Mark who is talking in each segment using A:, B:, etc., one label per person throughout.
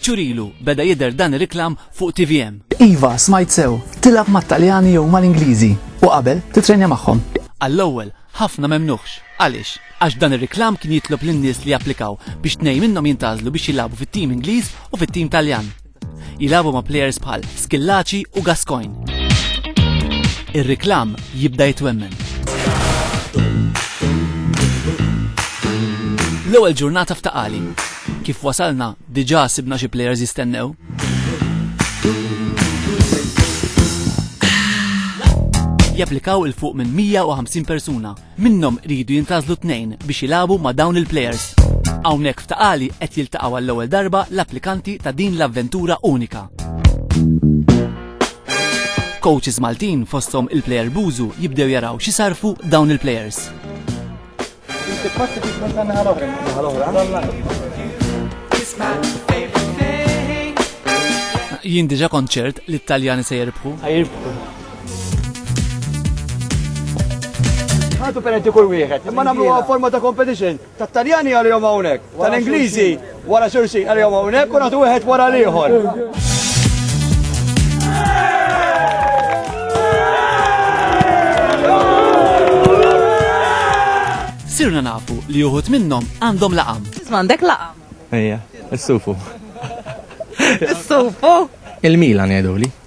A: ċurilu beda jidher dan ir-reklam fuq TVM. Iva, smajt sew,
B: tilab mat-Taljani jew mal-Ingliżi u qabel titrenja magħhom. Għall-ewwel,
A: ħafna memnuħx. Għaliex? Għax dan ir-reklam kien jitlob lin-nies li japplikaw biex tnej minnhom jintażlu biex jilagħbu fit-tim Ingliż u fit-tim Taljan. Jilabu ma' plejers bħal Skillaci u Gascoigne. Ir-riklam jibda jitwemmen. L-ewwel ġurnata f'taqali. Kif wasalna, diġà sibna xi plejers jistennew. Japplikaw il fuq minn 150 persuna Minnhom iridu jintgħażlu tnejn biex jilagħbu ma' dawn il-plejers. Hawnhekk f'Ta' Qali qed jiltaqgħu għall-ewwel darba l-applikanti ta' din l-avventura unika. Coaches Maltin fosthom il-plejer Bużu jibdew jaraw xi sar fuq dawn il-plejers. Jien diġa kont ċert li t-Taljani se jirbħu.
C: Għatu penalti kull wieħed. Imma nagħmlu forma ta' competition. Ta' Taljani għalihom hawnhekk, tal-Ingliżi wara xulxin għalihom hawnhekk u nagħtu wieħed wara l-ieħor.
A: Sirna nafu li uħut minnhom għandhom laqam. M'għandek laqam.
D: Ejja,
E: is-sufu. Is-sufu?
D: Il-Milan jgħiduli.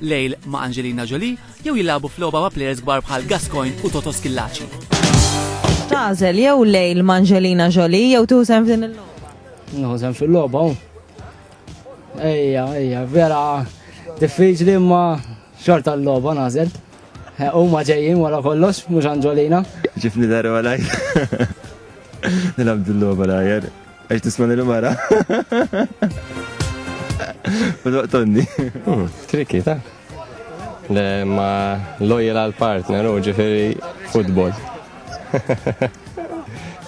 A: lejl ma' Angelina Jolie jew jilagħbu f'logħba ma' plejers kbar bħal Gascoigne u Toto Schillaci.
D: Tagħżel jew lejl ma' Angelina Jolie jew tieħu sehem f'din il-logħba? Nieħu sehem fil-logħba
F: hu. Ejja, ejja, vera diffiċli imma xorta l-logħba nażel. U ma ġejjin wara kollox, mhux Angelina. Ġifni darba
E: lajk. Nilab dil-logħba lajk. Għax tisman il-mara. Tonni. Hmm,
G: Triki, ta' ma lojel għal partner u ġifiri futbol.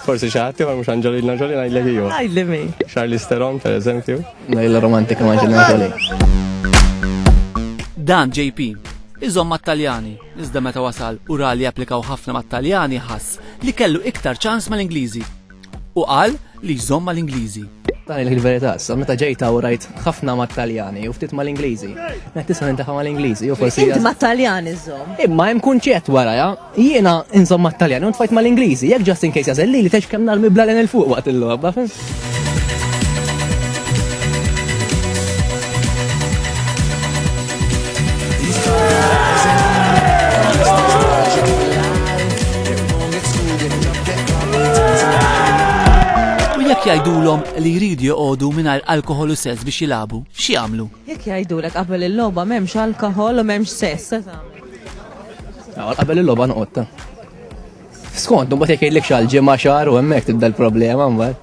G: Forsi xaħti, ma mux Angelina Jolie, najdlek ju. Najdli mi. Charlie
D: Steron, per
G: eżempju. Najla romantika
E: ma Angelina Jolie. Dan
A: JP, iżom ma taljani iżda meta wasal u ra li applikaw ħafna ma taljani ħass li kellu iktar ċans ma l-Ingliżi. u qal li jżomm mal-Ingliżi. Tgħid il-verità,
E: sa meta ġejt hawn rajt ħafna mat-Taljani u ftit mal-Ingliżi. Qed nisma' nintafa' mal-Ingliżi jew forsi. Int mat-Taljani
D: żżomm. Imma hemm kunċett
E: warajha, jiena inżomm mat-Taljani u ntfajt mal-Ingliżi, jekk just in case jażel lili tgħidx kemm narmi bl-għalien il fuq waqt il-logħba, fim?
A: Jekk jgħidulhom li jridu joqogħdu mingħajr alkohol u sess biex jilagħbu, xi jagħmlu? Jekk jgħidulek qabel
D: il-logħba m'hemmx alkohol u m'hemmx sess, Għal
E: qabel il-logħba noqgħodta. Skont, mbagħad jekk jgħidlek xi ġimgħa xahar u hemmhekk tibda l-problema mbagħad.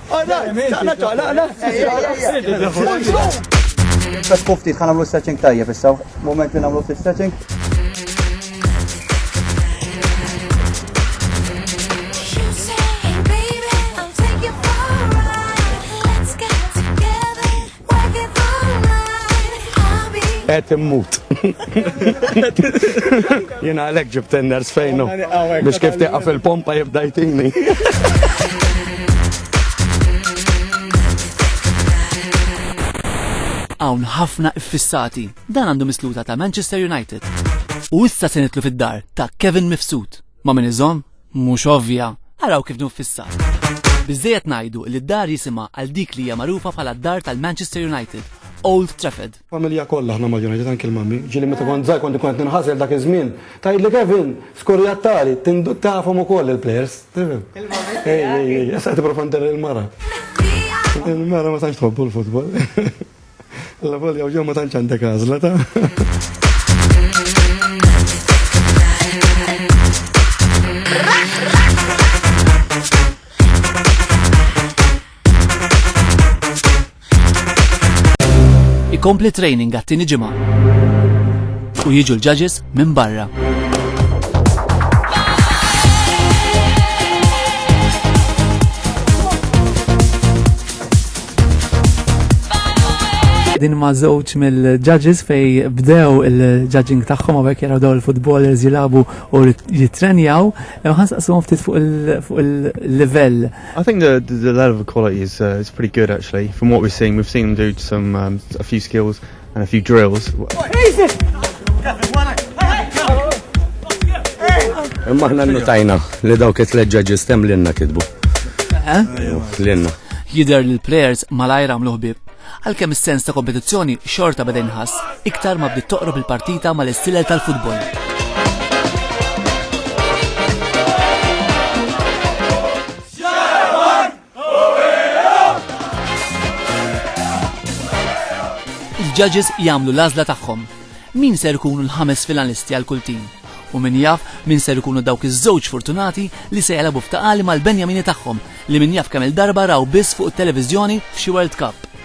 C: All right, taqla taqla, taqla. Bas kuftit kan għamlu stretching tajjeb issa, moment li għamlu ftit stretching.
H: Qed immut. Jiena għalhekk ġibt tenners fejnu biex kif tieqa fil-pompa jibda jtini.
A: Hawn ħafna iffissati. Dan għandu misluta ta' Manchester United. U issa se nitlu fid-dar ta' Kevin Mifsud. Ma' min iżomm? Mhux ovvja! Araw kif nfissha. Biżżejjed ngħidu li d-dar jisimha għal dik li hija magħrufa bħala d-dar tal-Manchester United, Old Trafford. Familja kollha aħna
C: mal-United, anki l-mummy. Ġieli meta kont żgħir kont inkun qed ninħasel dak iż-żmien. Tgħidli Kevin, skurjat tali, tafhom ukoll il-plejers, tifhem? Il-mummy tiegħek. Ej, ej, ej, issa qed tipprova nderri l-mara. Il-mara ma tantx tħobbu l-futbol. Alla volja u ġew ma tantx għandek għażla ta'.
A: ikompli training għat-tieni ġimgħa. U jiġu l-judges minn barra.
B: Din ma' żewġ mill-judges fej bdew il-judging tagħhom għabek jaraw daw il-futbolers jilabu u jitrenjaw. Ħans qasum ftit fuq il-level. I think the,
I: the level of quality is, uh, is pretty good actually. From what we've seen, we've seen them do some um, a few skills. and a few drills.
H: Imma ħna notajna li dawk it-tleġġa ġistem l-inna kidbu. Eh? L-inna. Jider
A: li l-players malajra għamlu ħbib. Għalkemm is-sens ta' kompetizzjoni xorta beda nħass, iktar ma bdiet toqrob il-partita mal-istilel tal-futbol. Il-judges jagħmlu l-għażla tagħhom. Min ser ikunu l-ħames finalisti għal kull tim? U min jaf min ser ikunu dawk iż-żewġ fortunati li se jagħlabu f'taqali mal-Benjamini tagħhom li min jaf kemm-il darba raw biss fuq it-televiżjoni f'xi World Cup.